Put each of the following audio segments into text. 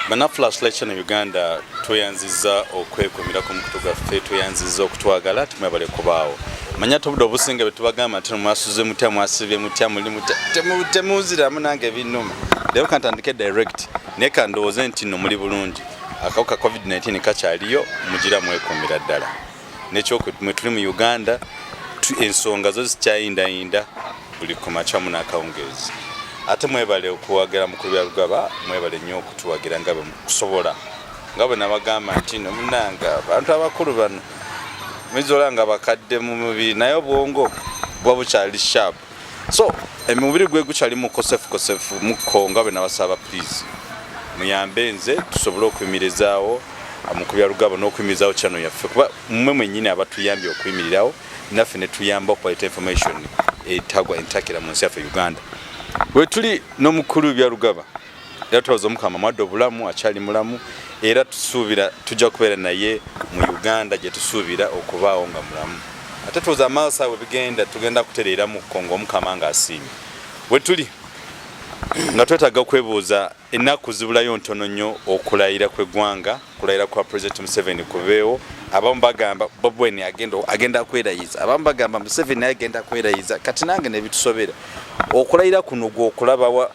banaflash lecture in uganda tweyanziza okwekumira ku mukutu gwaffe tweyanziza okutwagala tumwebale kubaawo manya tobudde obusinga betubagamba nti mwasuze mutya mwasibye mutya muli mutya temuuziramu nange ebinuma leero kantandike direct naye kandowooze nti no muli bulungi akawuka covid-19 kakyaliyo mugira mwekumira ddala nekyokmwe tuli mu uganda ensonga zo zikyayindayinda buli kumakyamu n'akawungeezi ate mwebale okuwagira mukulu bya lugaba mwebale nnyo okutuwagira nga bekusobola nga bwe nabagamba nti nomunanga abantu abakulu bano mizola nga bakadde mu mubiri naye obwongo buba bukyali sharp so emubiri eh, gwe gukyali mukosefu kosefu mukko nga bwe nabasaba please muyambe nze tusobole okuyimirizaawo ah, mukubya lugabo n'okuyimirizaawo channel yaffe kuba mmwe mwennyini abatuyambye okuyimirirawo naffe ne tuyamba okubaleta information etagwa entakira mu nsi yaffe uganda wetuli n'omukulu bya lugaba era tubaza omukama mwadde obulamu akyali mulamu era tusuubira tujja kubeera naye mu uganda gye tusuubira okubaawo nga mulamu ate tuwoza amaaso awe bigenda tugenda kutereera mu kongo omukama nga asiimye wetuli nga twetaaga okwebuuza ennaku zibulayo ntono nnyo okulayira kw'eggwanga okulayira kwa pulezidenti museveni kubeewo abamu bagamba bobweni agenda kwerayiza abamu bagamba museveni agenda kwerayiza kati nange nebitusobera okulayira kuno gweokulabawa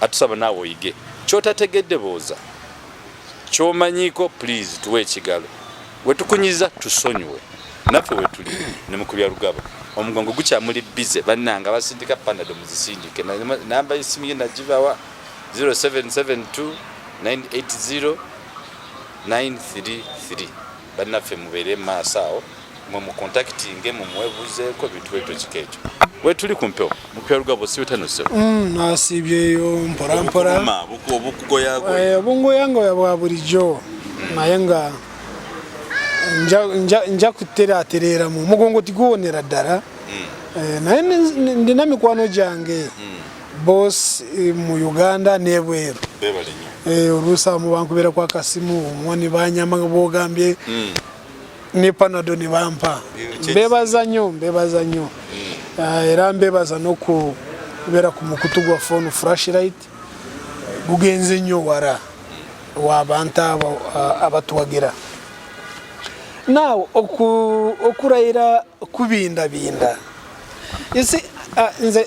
atusaba naawe oyige kyotategedde booza kyomanyiko please tuwe ekigalo wetukunyiza tusonyiwe naffe wetuli nemukubya lugaba omugongo gukyamuli bize bannanga basindika panado muzisindike namba esimu ye nagibawa 0772 980 933 bannaffe mubeere maaso awo mwe mukontakitinge mumwebuzeeko ebintu bweto kika ekyo wetuli ku mpewo mupyalugabo siwetanoseo mm, nasiibyeyo mpolampola eh, obungoyangoya bwa bulijjo naye nga nja kuterateramu omugongo tiguwonera ddala mm. eh, naye ndina mikwano gyange mm. boss eh, mu uganda nebweru eh, oluusi abamu bankubira ku akasimu omuwa ne banyama nga bwogambye hmm. ne panado ne bampa mbebaza nnyo mbebaza nnyo hmm. ah, era mbebaza n'okubeera ku mukutu gwa fone frashlight gugenze nnyo wara wabantu abo ah, abatuwagira nawe okurayira kubindabinda ah, nze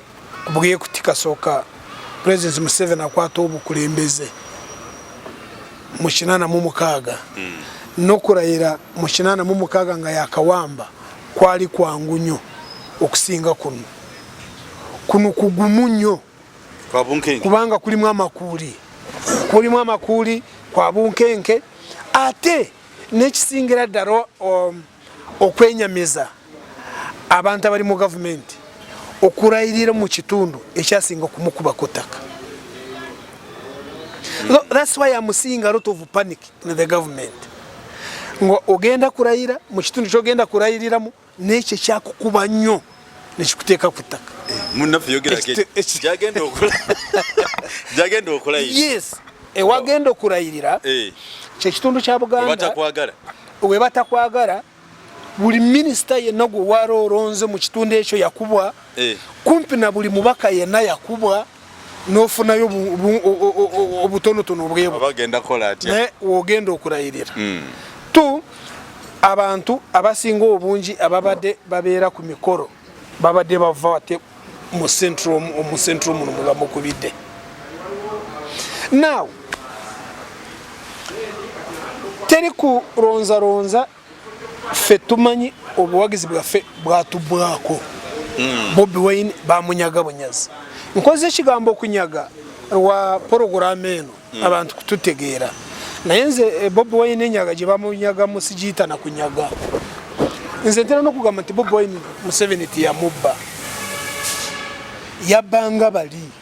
bwiye kuti kasooka president museveni akwata obukulembeze mu kinana mu mukaaga hmm. nokulayira mu kinana mu mukaaga nga yakawamba kwali kwangu nnyo okusinga kuno kuno kugumu nnyo kubanga kulimu amakuuli kulimu amakuuli kwa bunkenke ate nekisingira ddala um, okwenyamiza abantu abali mu gavumenti okurayirira mu kitundu ekyasinga okumukuba ku ttaka thats why am seeing a lot of panic in the government nga ogenda kurayira mu kitundu kyogenda kurayiriramu nekyo ekyakukuba nnyo nekikuteeka ku ttaka eh, munnaffe yogerako gyagenda okola gyagenda okola yes ewagenda okulayirira eh. kyekitundu kya buganda we batakwagala buli minisita yenna gwe wali olonze mu kitundu ekyo yakubwa eh. kumpi na buli mubaka yenna yakubwa nofunayo obutonotono obwebwonaye wogenda okulayirira hmm. t abantu abasinga obungi ababadde babeera ku mikolo babadde bava ate mu central muno mwebamukubidde now teri kulonzalonza ffe tumanyi obuwagizi bwaffe bwatubwako hmm. bobi wine bamunyaga bunyazi nkoze ekigambo okunyaga lwa poroguramu eno hmm. abantu kututegeera naye nze eh, bobi wine enyaga gye bamunyaga musigiyita na kunyaga nze ntera n'okugamba nti bobi wine museveni tiyamubba yabbanga bali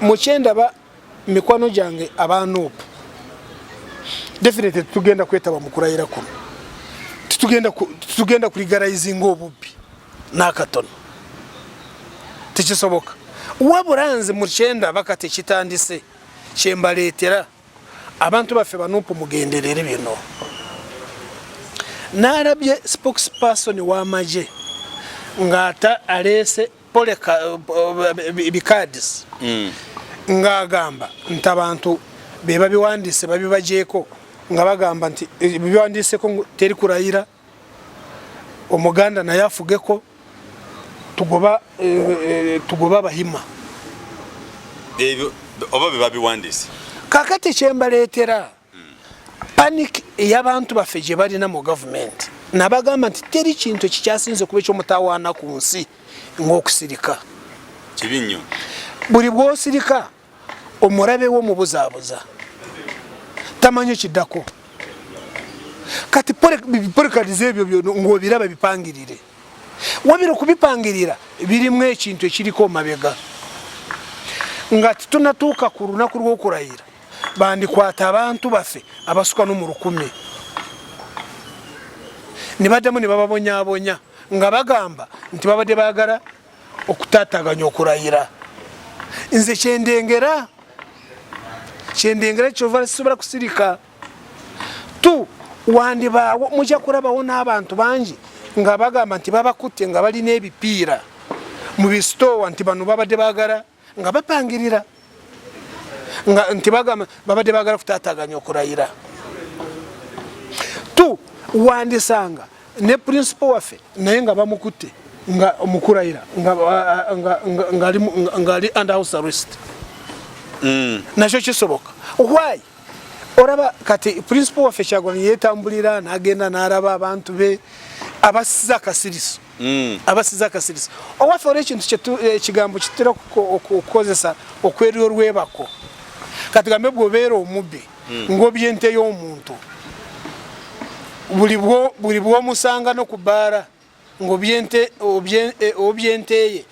mukyendaba mikwano gyange aba nup definitely tugenda kwetaba mu kulayira kuno titugenda kuligarayizinga obubbi n'akatono tekisoboka wabula nze mukyenda baka tekitandise kyembaleetera abantu baffe banupu mugenderere bino nalabye spokesperson w'amagye ng'ata aleese pole bikadis mm. ng'agamba nti abantu be babiwandiise babibajeeko nga bagamba nti eh, biwandiiseko teri kurayira omuganda naye afugeko tugoba eh, eh, tugoba abahima ebyo oba bebabiwandiise kakati kyembaleetera panic eyabantu baffe gye balina mu gavumenti nabagamba nti teri kintu ekikyasinze kuba ekyomutawaana ku nsi ngaokusirika kibi nnyo buli bwosirika omulabe wo mubuzaabuza tamanyi ekiddako kati porekadize ebyo byo ngaobiraba bipangirire wabira okubipangirira birimu ekintu ekiriko omabega nga titunatuuka ku lunaku lwokulayira bandikwata abantu baffe abasuka no mu lukumi ne baddamu ne bababonyabonya nga bagamba nti babadde baagala okutataganya okulayira nze kyendengera kyendengera kyova sisobola kusirika tu wandibaawo mujja kulabawo n'abantu bangi nga bagamba nti babakutte nga balina ebipiira mu bisitoowa nti bano babadde baagala nga bapangirira nga nti bagamba babadde bagala kutataganya okulayira tu wandisanga ne principal waffe naye nga bamukutte nga mukulayira ngaali under house arrest mm. nakyo kisoboka why olaba kati principal waffe kyagwani yetambulira nagenda naraba abantu be abasiza akasiriso mm. abasiza akasirisa owaffe olwo ekintu ekigambo eh, kitera okukozesa okwerya olwebako katugambe bwobeera omubbi mm. ngoby ente y'omuntu buli bwomusanga no kubaala ngobyente obyenteye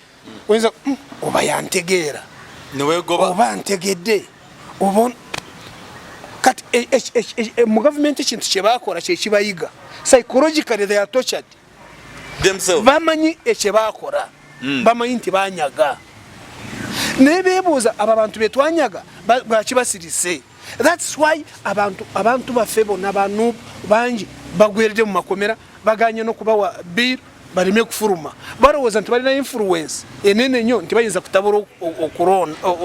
oyinza hmm, oba yantegeera oba ntegedde oba kati e, e, e, mu gavumenti ekintu kyebakola kyekibayiga psychologically they are tortured bamanyi ekye bakola mm. bamanyi nti banyaga naye bebuuza abo abantu betwanyaga lwaki basirise thats why abantu abantu baffe bona banub bangi bagwerede mu makomera baganye nokubawa bill baleme kufuluma balowooza nti balina influence enene nyo nti bayinza kutabula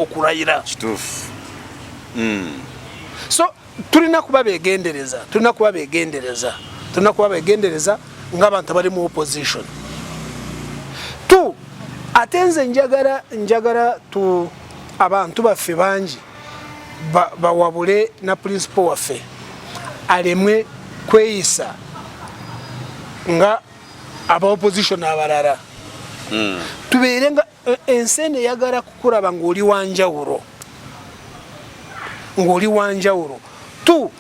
okurayira mm. so tulina kuba begendereza tulina kuba begendereza tulina kuba begendereza ngaabantu abali mu opposition t ate nze njagala njagala t abantu baffe bangi bawabule na principal waffe alemwe kweyisa nga aba opposition abalala hmm. tubeere nga E, ensi eno eyagala kukulaba ng'oli wanjawulo ng'oli wanjawulo tu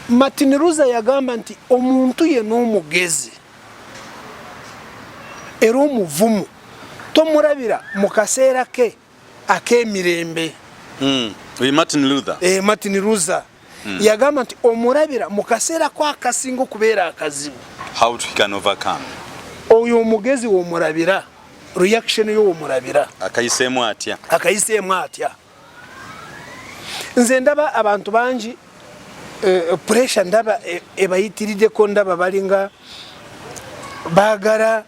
martin rusa yagamba nti omuntu ye n'omugezi era omuvumu tomulabira mu kaseera ke ak'emirembe hmm. martin rusa eh, mm. yagamba nti omulabira mu kaseera ko akasinga okubeera akazibu oyo omugezi womulabira reaction yo womulabira akayiseemu atya akayiseemu atya nze ndaba abantu bangi uh, pressure ndaba e, ebayitirideko ndaba balinga bagala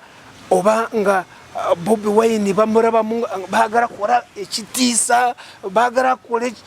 oba nga eh, bobi wine bamurabamu bagala kola ekitiisa bagala kola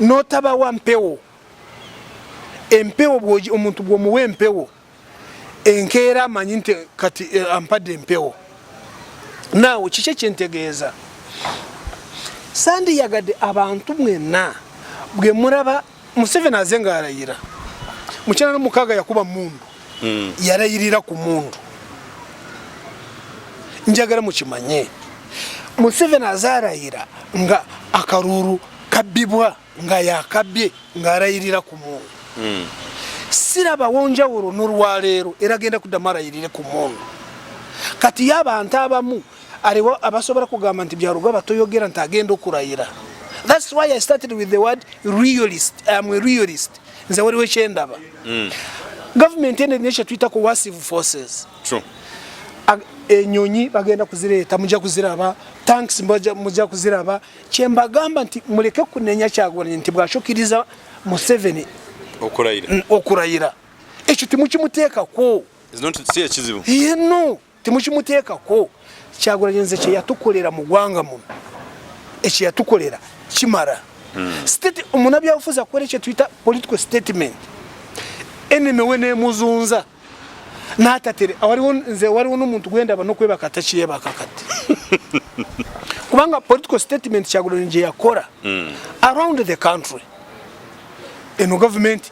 notabawa mpewo empewo omuntu bwomuwa empewo enkeera amanyi nti kati eh, ampadde empewo naawe kiki ekyentegeeza sandiyagadde abantu mwenna bwemulaba Museveni aze nga alayira mukyana no mukaga yakuba mundu mm. yarayirira ku mundu njagala mukimanye Museveni aze arayira nga akaruru kabibwa nga yakabye nga arayirira ku mundu mm. siraba wonjawuro nolwaleero era genda kudamara yirire ku mundu kati yabantu abamu aliwo abasobola kugamba nti byarugaba toyogera nti agenda okurayira thats why i started with the word realist am a realist nze waliwo ekyendaba mm. government ene erina ekyetuyita coercive forces True. enyonyi bagenda kuzireeta mujja kuziraba tanks mujja kuziraba kyembagamba nti muleke kunenya kyagulanyi nti bwakikiriza museveni okurayira ekyo temukimuteekako no temukimuteekako kyagulanyi nze kyeyatukolera mu gwanga muno ekyeyatukolera kimara hmm. omunabyabufuzi akola ekyetuyita political statement eneme we nemuzunza natatere nze waliwo nomuntu gwendaba nokwebaka takyebaka kati kubanga political statement kyagulanyi gyeyakora hmm. around the country eno gavumenti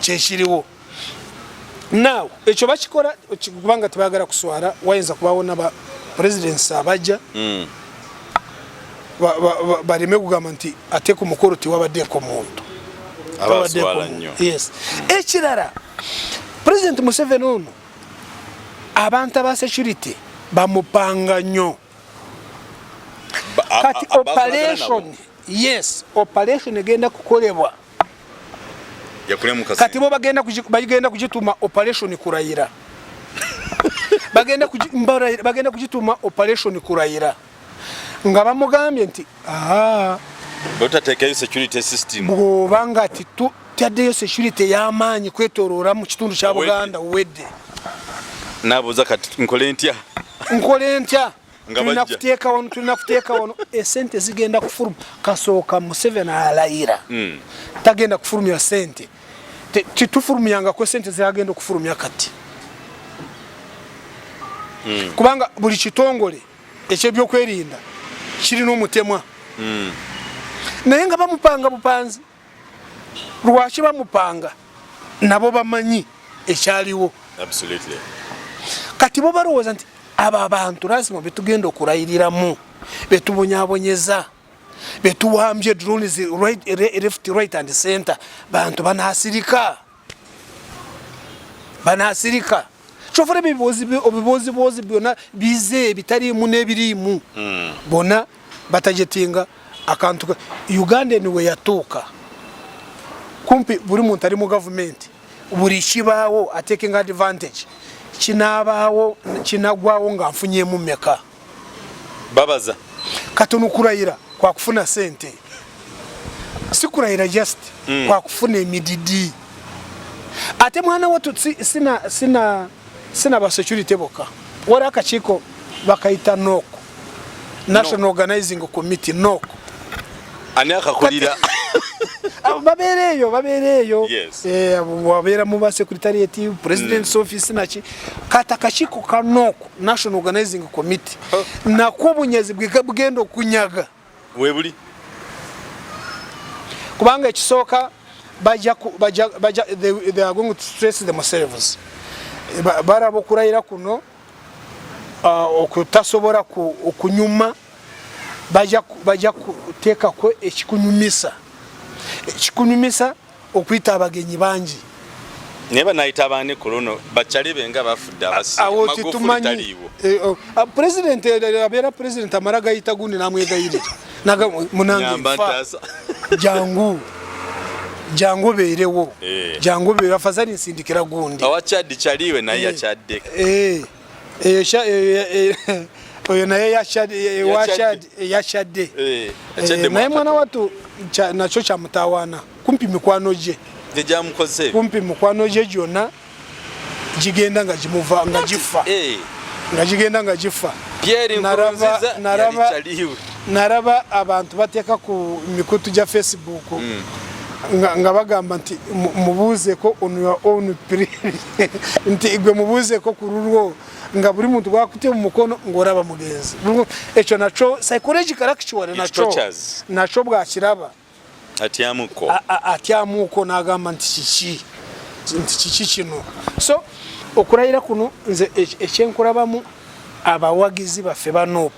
kyekiriwo now ekyo bakikola kubanga tebagala kuswala wayinza kubawo naba presidents abajja mm. baleme kugamba nti ate ku mukolo tiwabaddeko muntu yes ekirala president museveni ono abantu aba security bamupanga nnyo kati operation yes operation egenda kukolebwa kati bo bagenda bagenda kugituma operation kurayira bagenda bagenda kugituma operation kurayira nga bamugambye nti botateekayo security system bwoba nga taddeyo security ey'amaanyi kwetoloola mu kitundu kya buganda wedde nabuuza kati nkole ntya nkole ntya tulina kuteeka wano tulina kuteeka wano esente zigenda kufuluma kasooka museveni alayira hmm. tagenda kufulumya sente titufulumyangako esente zagenda okufulumya kati hmm. kubanga buli kitongole ekyebyokwerinda kirina omutemwa hmm. naye nga bamupanga bupanzi lwaki bamupanga nabo bamanyi ekyaliwo kati bo balowooza nti abo abantu lazima betugenda okulayiriramu betubonyabonyeza betuwambye drones left right and center bantu banasirika banasirika kyofuna ebibuuziboozi byona bize ebitaliimu n'ebiriimu hmm. bona batajetinga akantu uganda eni we yatuuka kumpi buli muntu ali mu gavumenti buli kibaawo atekinga advantage kinaabaawo kinagwawo nga nfunyemu meka babaza katono kurayira kwa kufuna sente si kurayira just mm. kwa kufuna emididi ate mwana watu sina sina sina ba security boka wari akakiko bakayita nok national no. organizing committee nok ani akakulira babeereeyo babeereeyo eh, wabeera mu basekuritariyeti president's mm. office naki kati akakiiko kanooko national organizing committee oh. nakwo obunyazi bugenda okunyaga webuli kubanga ekisooka they are going to stress themselves baraba okurayira kuno uh, okutasobola okunyuma bajja kuteekako ekikunyumisa ekikunyumisa okuyita abagenyi bangi naye banayita abaani ku luno bakyali be nga bafudde abasiawo kitumanyi eh, oh, ah, pulezidenti eh, eh, abeera pulezidenti amala gayita gundi namwegayirira jangu jangu obeerewo jangu obeerewo afazali nsindikira gundi awakyaddi kyaliwe naye yakyaddeko eyo sha oyo naye yashadde eh, eh, naye mwana watu nakyo kyamutawaana kumpi mikwano gye kumpi mikwano gye gyonna gigenda nga gimuva nga gifa eh. nga gigenda nga gifa naraba abantu bateeka ku mikutu gya facebook hmm. nga bagamba nti mubuuzeko on your own period nti gwe mubuuzeko ku lulwo nga buli muntu gwakutye mu mukono ng'olaba mugenzi ekyo nakyo psychological actually nakyo nakyo bwakiraba atyamuko atyamuko n'agamba nti kiki nti kiki kino so okulayira kuno nze ekyenkulabamu abawagizi baffe ba nop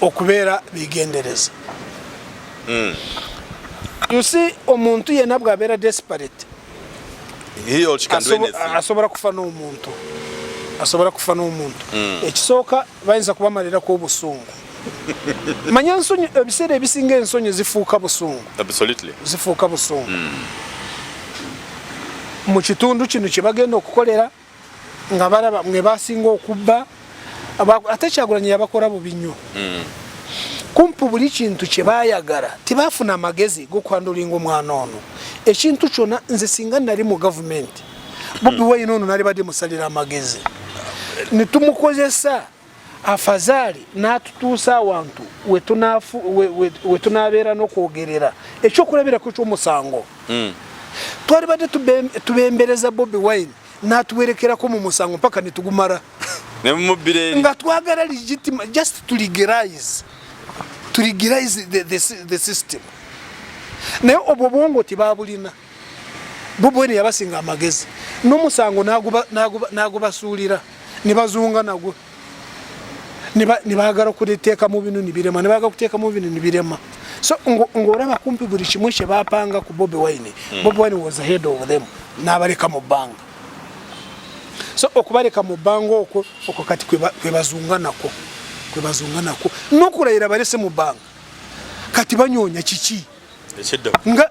okubeera bigendereza hmm. you see omuntu yena bwabeera desperate asobola kufa n'omuntu asobola kufa n'omuntu hmm. ekisooka bayinza kubamalirako obusungu manya ensonyi ebiseera ebisinga ensonyi zifuuka busungu zifuuka busungu hmm. mu kitundu kino kye bagenda okukolera nga balaba mwe basinga okubba ate kyagulanyi yabakora bubi nnyo mm. kumpu buli kintu kyebayagala tebafuna amagezi gokwandulinga omwana ono ekintu kyona nze singa nali mu gavumenti bobi mm. wayina ono nali bade musalira amagezi netumukozesa afazaali n'atutuusa awantu we tunaabeera n'okwogerera ekyokulabirako ky'omusango hmm. twali badde tubembereza bobi wine n'atuwerekerako mu musango mpaka ne tugumala nga twagala legitima just to legalize to legalize the, the, the system naye obwo bwongo tibabulina bubweni yabasinga amagezi nomusango nagubasuulira nebazunga nagwo nebagala okuteeka mu binu nibirema nebagala kuteeka mu binu nibirema so ng'olaba kumpi buli kimu kye bapanga ku bobi wine hmm. bobi wine was ahead of them n'abaleka mu bbanga so okubaleka mu bbanga okwo okwo kati kwebazunga nakwo kwebazunga nakwo n'okulayira balese mu bbanga kati banyonya kiki nga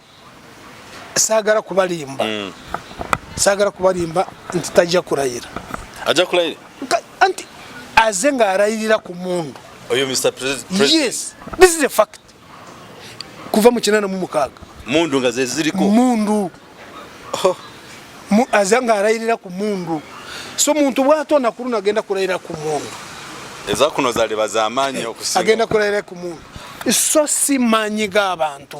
sagala kubalimba mm. sagala kubalimba nti tajja kulayira ajja kulayira anti aze nga alayirira ku mundu oyo mr president yes this is a fact kuva mu kinana mu mukaga mundu nga zeziriko mundu oh. mu aze nga alayirira ku mundu so muntu bwato nakuluna agenda kulayira ku mundu eza kuno zali bazamanyo eh, okusinga agenda kulayira ku mundu so si manyi ga abantu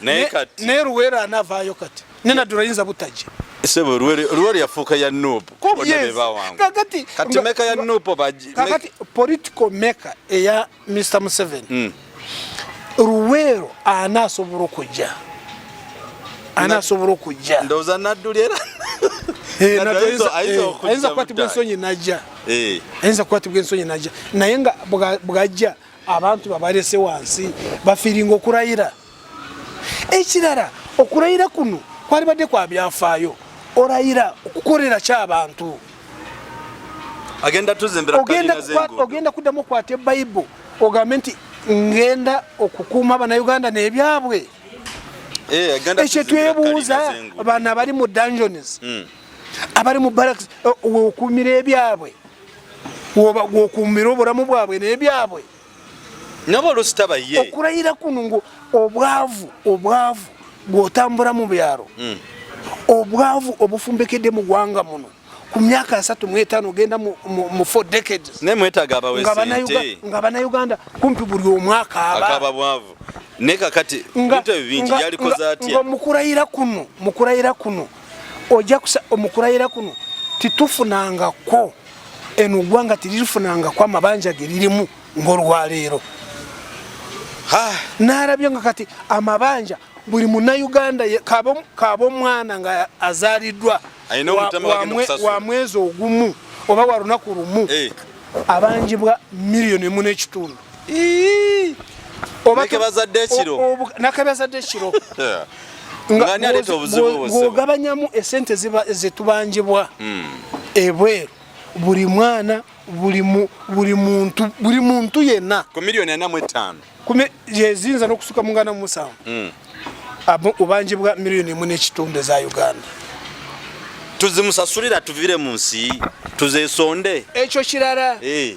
naye kati ne luwera anavaayo kati ne nadula yinza butajja sebo luwere luwere yafuuka ya noob kakati kati meka ya noob baji kakati political maker eya Mr Museven mm. luwero anasobola okujja anasobola okujja ndoza naduli era eh, ayinza kukwatibwa ensonyi najja eh. ayinza kukwatibwa ensonyi najja naye nga bwajja abantu babalese wansi bafiringa okurayira ekirala okurayira kuno kwalibadde kwa byafaayo orayira okukolera kyabantu ogenda kuddamu okwata ebayibo ogambe nti ngenda okukuuma banauganda nebyabwe eh, ekyo twebuuza bano abali mu dungeons hmm. abali mu baraks eh, okuumira ebyabwe wobakuumira obulamu bwabwe nebyabwe nabo olusitaba ye okulayira kuno ngo obwavu obwavu gwotambula mu byalo hmm. obwavu obufumbekedde mu gwanga muno ku myaka asatu mwetano ogenda mu four decades naye mwetaga abawesente nga banauganda kumpi buli omwaka abakaba bwavu nekakati bintu ebyo bingi yalikoze atya nga mukurayira kuno mukurayira kuno ojja kusa omukulayira kuno titufunangako eno gwanga tirifunangako amabanja geririmu ngolwaleero ah. narabye nga kati amabanja buli munauganda kaba omwana nga azaliddwa wa mwezi ogumu oba walunaku lumu eh. abanjibwa miliyoni emu nekitundu obakebazadde ekiro nakebazadde ekiro ngaogabanyamu esente zetubanjibwa hmm. ebweru buli mwana buli muntu buli muntu yenna ku miliyoni ana mu etaano yeziyinza n'okusuka mu ngana musanvu hmm. obanje bwa miliyoni emu n'ekitundu eza uganda tuzimusasulira tuvire mu nsi tuzesonde ekyo kirala eh.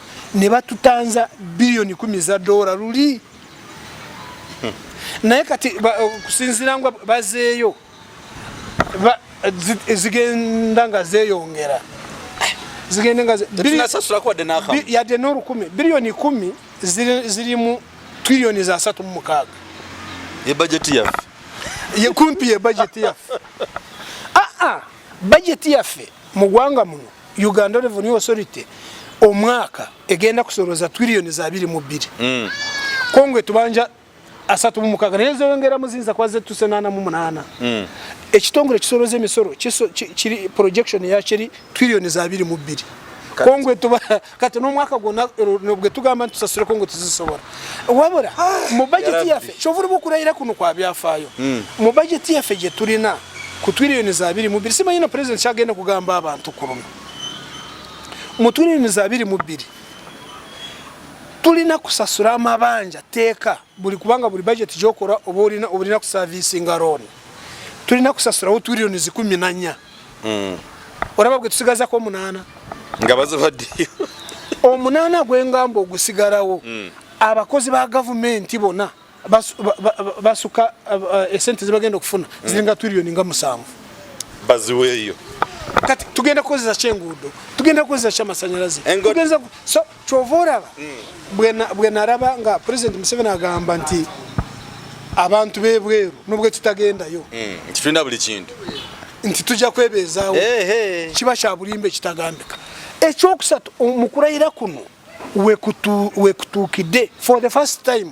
ne batutanza biliyoni kumi za dola luli hmm. naye kati okusinzira nga bazeeyo zigenda nga zeyongera zigende nga yadde n'olukumi biliyoni kumi zirimu triliyoni za satu mu mukaaga ye bajeti yaffe ye kumpi ye bajeti yaffe aa ah, ah, bajeti yaffe mu gwanga muno Uganda Revenue Authority omwaka egenda kusoloza twiliyoni za biri mu bbiri mm. kongo etubanja asatu mu mukaga naye zeyongera muzinza kwa zetu senana mu munana mm. ekitongole kisoloza emisolo kiri projection ya kiri twiliyoni za biri mu bbiri kongo etuba kati n'omwaka gwonna nobwe tugamba nti tusasuleko nga tuzisobola wabula mu bajeti yaffe kyovula bwokulayira kuno kwa byafaayo hmm. mu bajeti yaffe gye tulina ku twiriyoni za biri mu bbiri simanyi na pulezidenti kyagenda kugamba abantu ku luno mu twiriyoni za biri mu bbiri tulina kusasula amabanja teeka buli kubanga buli budget gyokora oba olina obulina kusavisinga loan tulina kusasulawo twiriyoni zikumi nanya mm. olaba gwe tusigazako omunaana nga bazibaddeyo omunaana gwengamba ogusigalawo mm. abakozi ba gavumenti bona basuka eh, esente zebagenda okufuna mm. ziringa twiriyoni nga musanvu baziweeyo kati tugenda kukozesa kyenguudo tugenda kukozesa kyamasanyalaze kyova olaba bwe naraba nga pulezidenti museveni agamba nti abantu bebweru nubwe tutagendayo hmm, nti tulina buli kintu nti tujja kwebeezaawo kiba kya bulimba ekitagambika ekyokusatu mu kulayira kuno wekutuukidde for the first time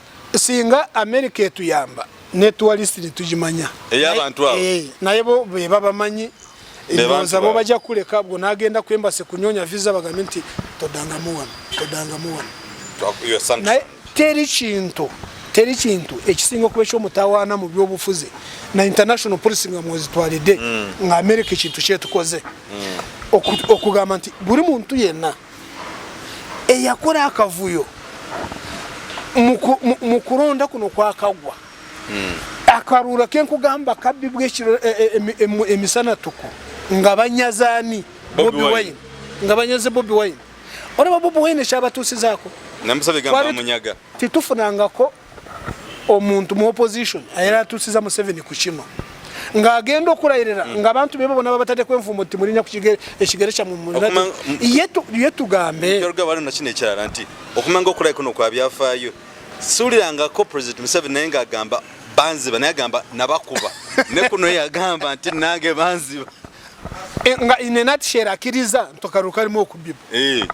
singa amerika etuyamba netuwalist netugimanya eyabantu abo eh, naye bo bebabamanyi ndowooza bo bajja kuleka bwo nagenda ku embassy kunyonya visa bagambe nti todangamu wano todangamu wano naye teri kintu teri kintu ekisinga okuba ekyomutawaana mu byobufuzi na international policy nga mwezitwalidde mm. nga amerika ekintu kyetukoze mm. okugamba nti buli muntu yenna eyakola akavuyo mu kulonda kuno kwakagwa hmm. akaruula kenkugamba kabbi bwekiro e, e, e, emisanatuku nga banyazani bobi wine nga banyaze bobi wine olaba bobi wine ekyabatuusizaako tetufunangako omuntu mu opposition ayera atusiza Museveni ku kino ng'agenda okulayirira hmm. ng'abantu be babona babatadde kwenvumbo nti mulinya ku kigere ekigere kya ye tugambe waliwo nakino ekirala nti okumanga okulayi kuno kwa byafaayo siwulirangako president museveni naye ng'agamba banziba naye agamba nabakuba ne kuno yagamba nti nange banziba eh, nga inenatishera akiriza ntokaruka alimu okubiba eh.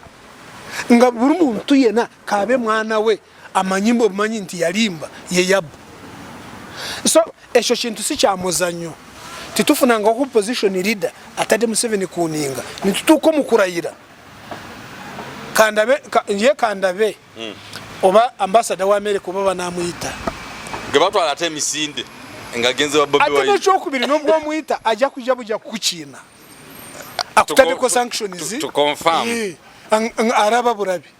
nga buli muntu yena kabe mwana we amanyi mbu omanyi nti yalimba yeyabba so ekyo kintu si kyamuzannyo titufunanga oku position leader atadde museveni kuninga nitutuuka omukurayira kandabe ye kandabe hmm. oba ambasada wa america oba banamuyita gebatwala ate emisinde nga genze wa bobi ate nekyokubiri nobwo omuyita ajja kuja buja kukiina akutadeko sanctions to confirm eh, araba burabi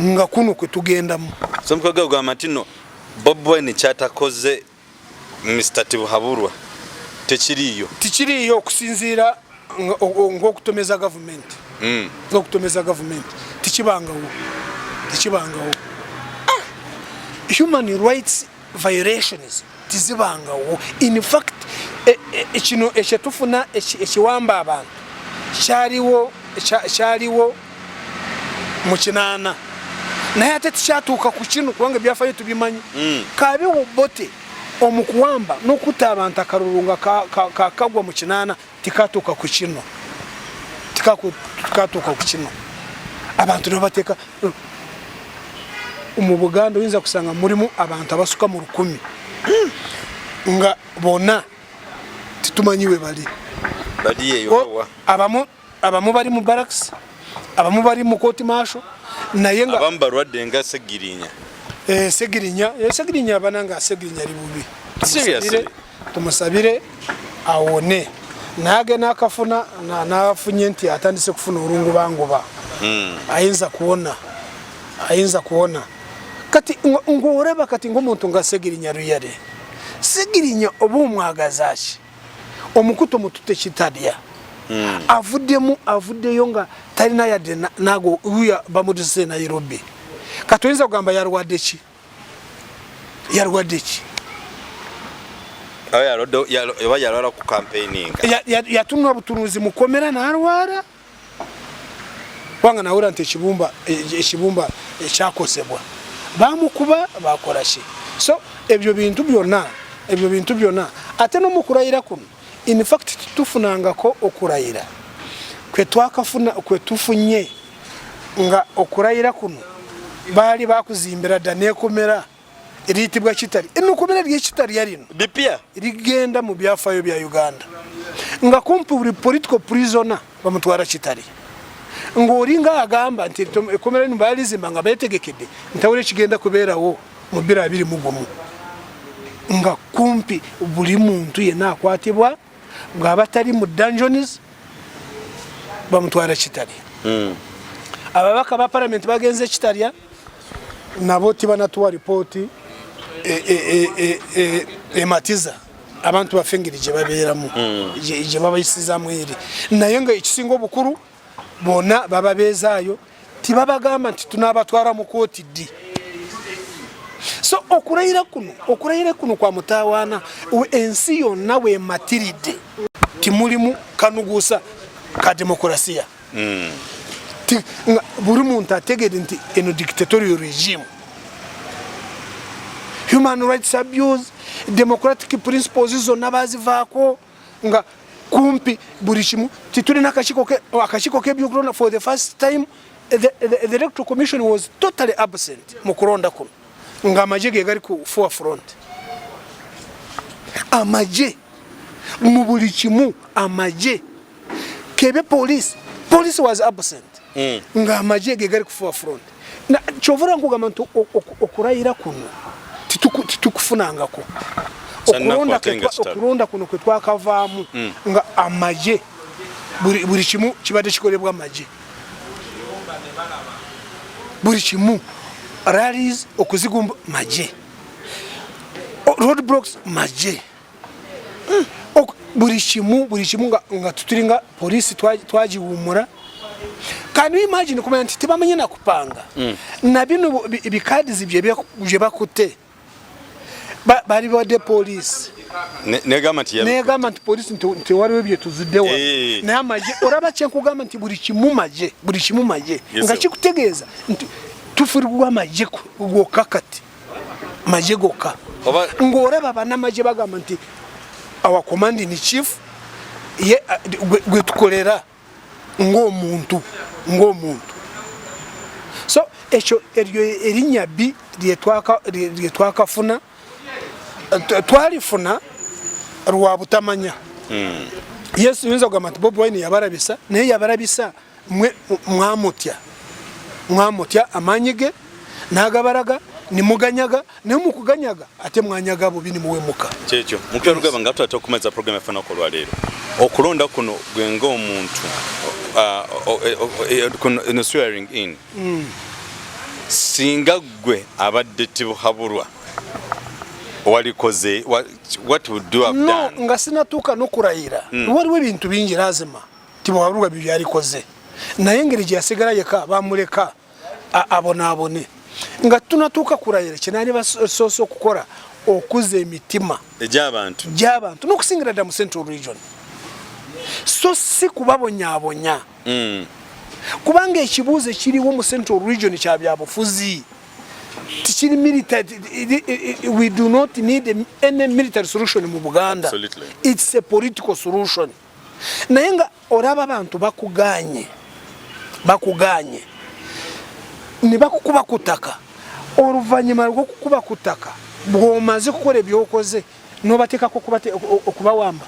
nga kuno kwe tugendamu semukaga ogamba nti no bob wine kyatakoze mr tibuhaburwa tekiriiyo tikiriiyo okusinziira ngaokutomeza gavumenti hmm. okutomeza gavumenti tikibangawo tikibangawo ah! human rights violations tizibangawo in fact e, e, e, kino ekyetufuna ekiwamba abantu kyaliwo kyaliwo mu kinaana naye ate tikyatuuka ku kino kubanga ebyafayo tubimanyi mm. kabiwo bote omukuwamba nokuta abantu akalulu nga kakagwa mu kinaana tikatuuka ku kino tikatuuka ku kino abantu nebateeka mu buganda oyinza kusanga mulimu abantu abasuka mu lukumi hmm. nga bona titumanyi we bali abamu abamu bali mu barracks abamu bali mu court martial naye nga abamu balwadde nga segirinya eh segirinya eh segirinya abananga segirinya libubi seriously tumusabire awone nage nakafuna nafunye nti atandise kufuna olungubanguba hmm. ayinza kuwona ayinza kuwona kati ngoreba kati ngomuntu nga segirinya ruyare segirinya oba omwagazaki omukuto mutute kitalya hmm. avuddemu avuddeyo nga talina yadde nago uya bamuduse nairobi kati oyinza kugamba yalwadde ki yalwadde ki oba yalwala ku campaigning yatunula obutunuzi mukomera nalwala kubanga nawera nti ekibumba ekibumba ekyakozebwa bamukuba bakola ki so ebyo bintu byonna ebyo bintu byonna ate nomukulayira kuno infact tufunangako okulayira kwetwakafuna kwetufunye nga okurayira kuno baali bakuzimbira dda nekomera eriyitibwa kitali enokomera eryekitalya lino bipya rigenda mu byafayo bya uganda nga kumpi buli political prisona bamutwara kitali ngaolinga agamba nti ekomera lino balizimba nga betegekede ntawula ekigenda kubeerawo mu biro abiri mugumu nga kumpi buli muntu yena akwatibwa bwaba tali mu dungeons bamutwala kitali hmm. ababaka ba parliament bagenze kitalya nabo tibanatuwa ripooti ematiza e, e, e, abantu baffe engeri gye babeeramu hmm. gye babayisizamu eri naye nga ekisinga obukulu bona baba bezaayo tibabagamba nti tunabatwala mu kooti ddi so okulayira kuno okulayira kuno kwa mutawaana ensi yonna wematiridde timulimu kanuguusa ka demokurasiya hmm. buli muntu ategede nti eno dictatorial regime human rights abuse democratic principles zonna bazivaako nga kumpi buli kimu titulina akakiko kebyokulonda for the first time the, the, the electoral commission was totally absent mu kulonda kuno nga amagye ge gali ku four front amagye mu buli kimu amagye kebe police police was absent mm. nga amagye ge gali ku four front kyovura nkugamba nti okurayira kuno titukufunangako okulonda kuno kwetwakavaamu mm. nga amaje buli kimu kibadde kikolebwa amaje buli kimu rallies okuzigumba maje road blocks maje hmm. buri kimu buri kimu nga tuturi nga polisi twagiwumura kandi imagine kumenya nti tibamenye na kupanga hmm. na bino bikadizi bye bakute bari bade polisi negamba nti negamba nti polisi nti waliwo ebyo tuziddewa eh. naye amagye oraba kyenkugamba nti buli kimu magye buli kimu magye nga kikutegeeza nti tufurigwa amagye gwokka kati maje gokka ng'olaba banamaje bagamba nti our commanding chief ye gwe tukolera ng'omuntu ng'omuntu so ekyo eryo erinnya bbi lye twakafuna twalifuna lwa butamanya hmm. yesu yinza okugamba nti bobi wine yabarabisa naye yabarabisa mwe mwamutya mwamutya amaanyi ge n'agabaraga nimuganyaga naye mukuganyaga ate mwanyaga bubi nimuwemuka kyekyo mukira lugaba nga tutata okumaza programu yaffe nako olwaleero okulonda kuno gwe ng'omuntu no swearing in mm. singa ggwe abadde tibuhabulwa walikoze what would you have done nga sinatuuka nokurayira mm. waliwo ebintu bingi lazima tibwaluga byo byalikoze naye ngeri gyasigala yeka bamuleka abonaabone nga tunatuuka kurayira kyenaali basoose okukola okuza emitima egyabantu gyabantu nokusingira dda mu central region so si kubabonyabonya mm. kubanga ekibuuzo ekiriwo mu central region kya byabufuzi tikiri military we do not need any military solution mu buganda Absolutely. it's a political solution naye nga olaba abantu bakuganye bakuganye ne bakukuba ku ttaka oluvannyuma lwokukuba ku ttaka bwomaze kukola ebyokoze nobateekako okubawamba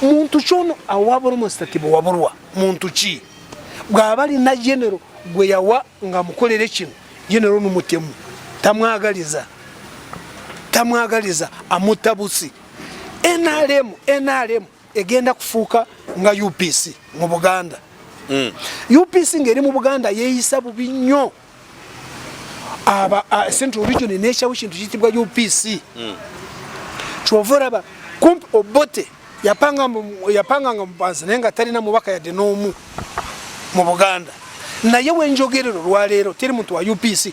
muntu kyono awabula omusitatibu wabulwa muntu ki bwaba alina genero gwe yawa nga mukolere kino genero nomutemu tamwagaliza tamwagaliza amutabusi nrm nrm egenda kufuuka nga upc mu buganda mm. upc ngeri mu buganda yeyisa bubi nnyo central region nekyawo ekintu kitibwa upc mm. kyova olaba kumpi obote yapanganga mubanza naye nga talina mubaka yadde n'omu mu buganda naye wenjogerero lwaleero teri muntu wa upc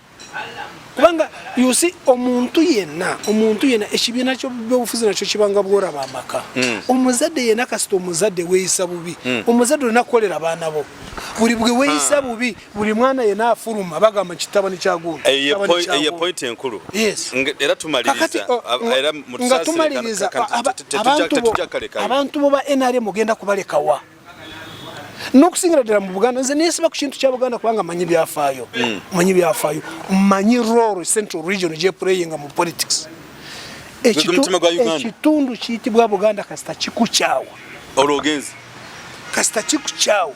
kubanga yusi omuntu yenna omuntu yenna ekibiina kyobyobufuzi nakyo kibanga bworaba amaka hmm. omuzadde yenna kasita omuzadde weyisa bubi hmm. omuzadde olina kukolera abaana bo buli bwe weyisa ah. bubi buli mwana yenna afuluma bagamba kitaba nikyagundapointi enkulu era tumalirizabantu bo ba nrm ogenda kubalekawa n'okusingira ddala mu buganda nze nesiba ku kintu kya buganda kubanga manyi byafaayo hmm. manyi byafaayo manyi roro central region gyepureyinga mu politics ekitundu kiyitibwa buganda kasita kikukyawa olwogenzi kasita kikukyawa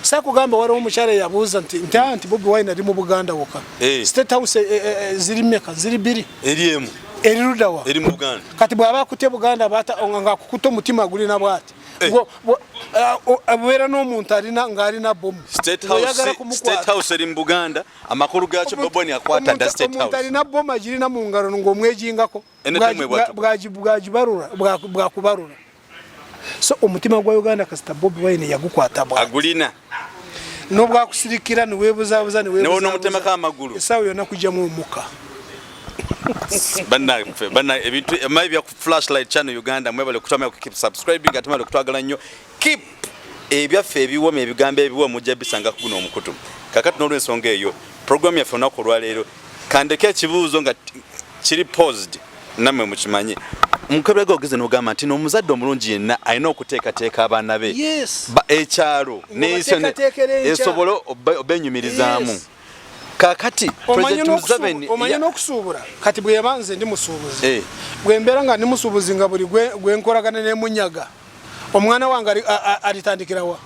sakugamba waliwo omukyala eyabuuza nti nti ah, nti bobi wine ali mu buganda woka eh. state house eh, eh, ziri meka ziri biri eri emu erirudawa eri mu buganda kati bwaba akutye buganda bata nga akukuta omutima gulina bwati Eh. Wo- wo- ah, o- abeera n'omuntu alina ng'alina bomu State House- Oyagala kumukwata. State House eri mu buganda amakulu gaakyo Omuntu- boboni akwata dda omuntu- state omuntu house alina bomu agirina mu ngalo ng'omwejingako Ene Bwagi- temwe bwatu. bwa- bwagi- bwagibarula bwa- bwakubarula so omutima gwa uganda kasita bobi wine yagukwata bwa agulina nobwakusirikira niwebuzabuza niwebuzabuza amagulu esawa yona kujamu omuka bana bana ebintu emayi bya flashlight channel Uganda mwebale kutama ku keep subscribing atama le kutwagala nyo keep ebyaffe ebiwoma ebigambo ebiwa mujja bisanga kuno omukutu kakati nolwe nsonga eyo program yaffe onaku olwaleero kandeke ekibuuzo nga kiri paused namwe mukimanye mukebega ogeze nogamba nti nomuzadde omulungi yenna alina okuteekateeka abaana be ekyalo esobole obenyumirizaamu kakati omanya n'okusuubula kati bweyaba nze ndi musuubuzi eh. bwembeera nga ndi musuubuzi nga buli gwenkolagana nemunyaga omwana wange alitandikirawa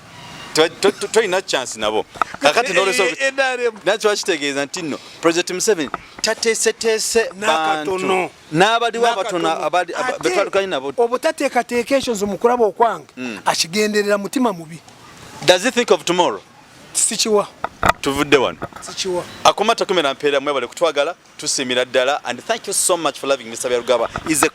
tolina chance nabo kakati nolesonakyo wakitegeeza nti nno president museveni tateeseteese bantu n'abaliwo abatono betwalukanye nabo obutateekateeka ekyo nze mukulaba okwange hmm. akigenderera mutima mubi does he think of tomorrow sikiwa tuvudde wano sikiwa akoma takumera mpeera mwebale kutwagala tusiimira ddala and thank you so much for loving Mr. Byarugaba is a,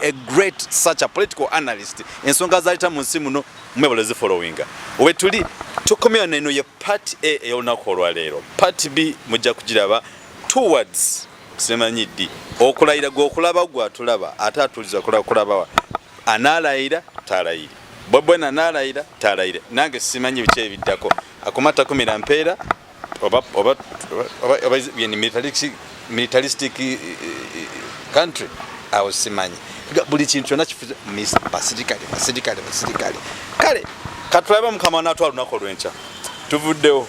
a great such a political analyst ensonga zaleta mu nsi muno mwebale zi following owe tuli tukomya neno ye part A ey'olunaku olwaleero part B mujja kugiraba towards simanyi ddi okulayira gwokulaba gwatulaba ate atuliza kulabawa anaalayira taalayiri bwebwena anaalayira taalayire nange simanyi biki ebiddako akumattakumira mpeera oba oba oba oba yani militaristic militaristic eh, eh, country awo simanyi buli kintu kyona kifuze misa basirikale basirikale basirikale kale katulabe mukama natwa lunaku olwenkya tuvuddewo